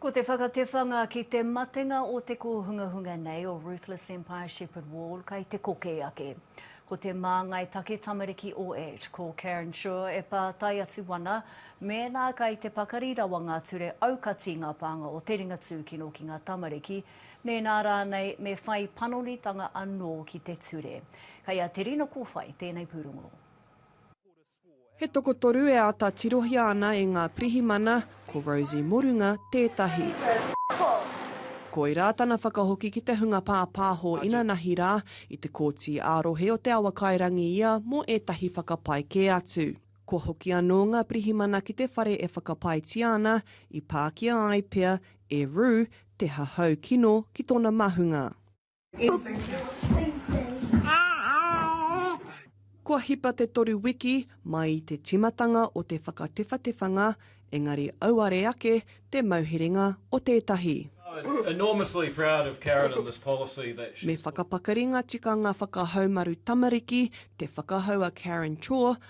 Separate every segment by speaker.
Speaker 1: Ko te whakatewhanga ki te matenga o te kōhungahunga nei o Ruthless Empire Shepherd Wall kai te kokē ake. Ko te māngai take tamariki o Ed, ko Karen Schur e pātai atu ana mēnā kai te pakari rawa ngā ture aukati ngā pānga o te ringa tūkino ki ngā tamariki, mēnā rānei me whai panonitanga anō ki te ture. Kai a Terina Kowhai tēnei pūrongo.
Speaker 2: He tokotoru e āta tirohia ana e ngā pirihimana, ko Rosie Morunga tētahi. Koirā tana whakahoki ki te hunga pāpāho inanahi rā, i te Kōti ā-Rohe o Te Awakairangi ia mō ētahi whakapae kē atu. Kua hoki anō ngā pirihimana ki te whare e whakapaetia ana, i pākia ai pea e Rue te hahau kino ki tōna mahunga. Kua hipa te toru wiki mai i te tīmatanga o te whakatewhatewhanga, engari auare ake te mauherenga o tētahi.
Speaker 3: Me whakapakari ngā
Speaker 2: tikanga whakahaumaru tamariki, te whakahau a Karen Chor,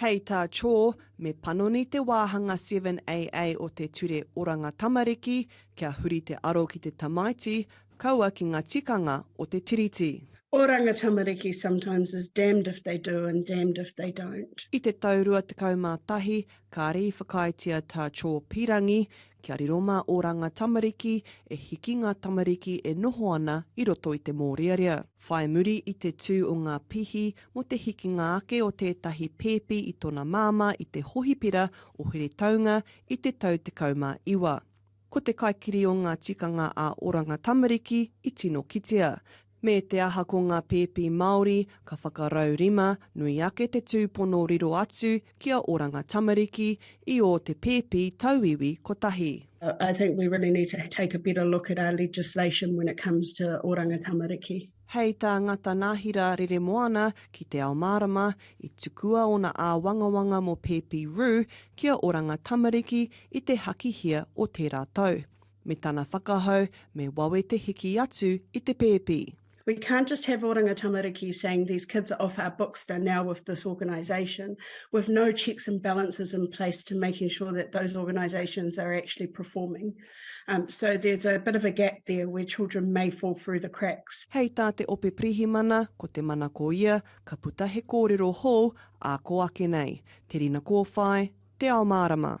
Speaker 4: Hei tā
Speaker 2: Chaw, me panoni te wāhanga 7AA o te Ture Oranga Tamariki kia huri te aro ki te tamaiti, kaua ki ngā tikanga o te Tiriti. Oranga Tamariki
Speaker 4: sometimes is damned if they do and damned if they don't. I te tau 21,
Speaker 2: kāre i whakaaetia tā Chaw pīrangi Kia riro mā ō rānga tamariki e hiki ngā tamariki e noho ana i roto i te mōrearea. Whai muri i te tū o ngā pihi mō te hikinga ake o tētahi pēpi i tōna māmā i te hohipera o Heretaunga i te tau 19. Ko te kaikiri o ngā tikanga ā-oranga tamariki i tino kitea, Me te aha ko ngā pēpi Māori, ka whakarau rima, nui ake te tūpono riro atu ki a Oranga Tamariki i ō te pēpi tauiwi kotahi. I think we really
Speaker 4: need to take a better look at our legislation when it comes to Oranga Tamariki. Hei tā Ngata
Speaker 2: Nahira Reremoana ki Te Ao Mārama, i tukua ōna āwangawanga mō pēpi rū ki a Oranga Tamariki i te hakihia o tērā tau. Me tana whakahau, me wawe te hiki atu i te pēpi. We can't just have
Speaker 4: Oranga Tamariki saying these kids are off our books, they're now with this organisation, with no checks and balances in place to making sure that those organisations are actually performing. Um, so there's a bit of a gap there where children may fall through the cracks. Hei tā te Ope
Speaker 2: Pirihimana, ko te mana ko ia, ka puta he kōrero hou, ā ko ake nei, te rina kōwhai, te ao mārama.